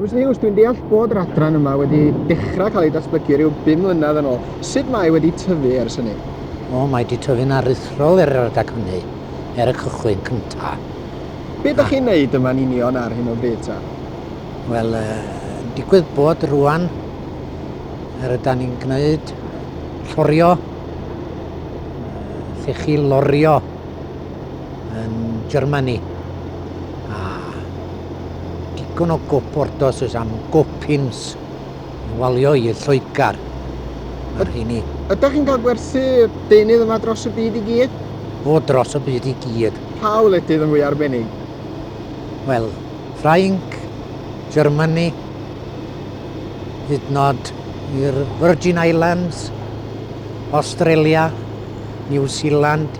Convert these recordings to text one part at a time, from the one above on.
Mister Hughes, dwi'n deall bod yr adran yma wedi dechrau cael ei datblygu rhyw 5 mlynedd yn ôl. Sut mae wedi tyfu ers hynny? O, mae wedi tyfu'n aruthrol er yr adag hynny, er y cychwyn cyntaf. Be ydych chi'n neud yma'n union ar hyn o bryd ta? Wel, digwydd bod rwan, er yda ni'n gwneud llorio, llechi lorio yn Germany. A digon o goportos oes am gopins yn walio i'r Lloegr. Mae'r rheini. Ydych chi'n cael gwerthu deunydd yma dros y byd i gyd? O, dros y byd i gyd. Pa wledydd yn fwy arbennig? Wel, Ffrainc, Germany, hyd nod i'r Virgin Islands, Australia, New Zealand,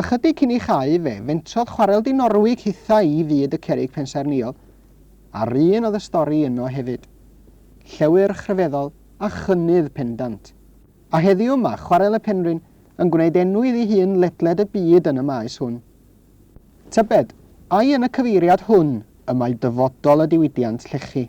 Ychydig cyn ei chau fe, fentrodd chwarel Dinorwig hithau i fyd y cerrig pensaernïol, a'r un oedd y stori yno hefyd. Llewyrch rhyfeddol, a chynnydd pendant. A heddiw mae Chwarel y Penrhyn yn gwneud enw iddi hun ledled y byd yn y maes hwn. Tybed, ai yn y cyfeiriad hwn y mae dyfodol y diwydiant llechi?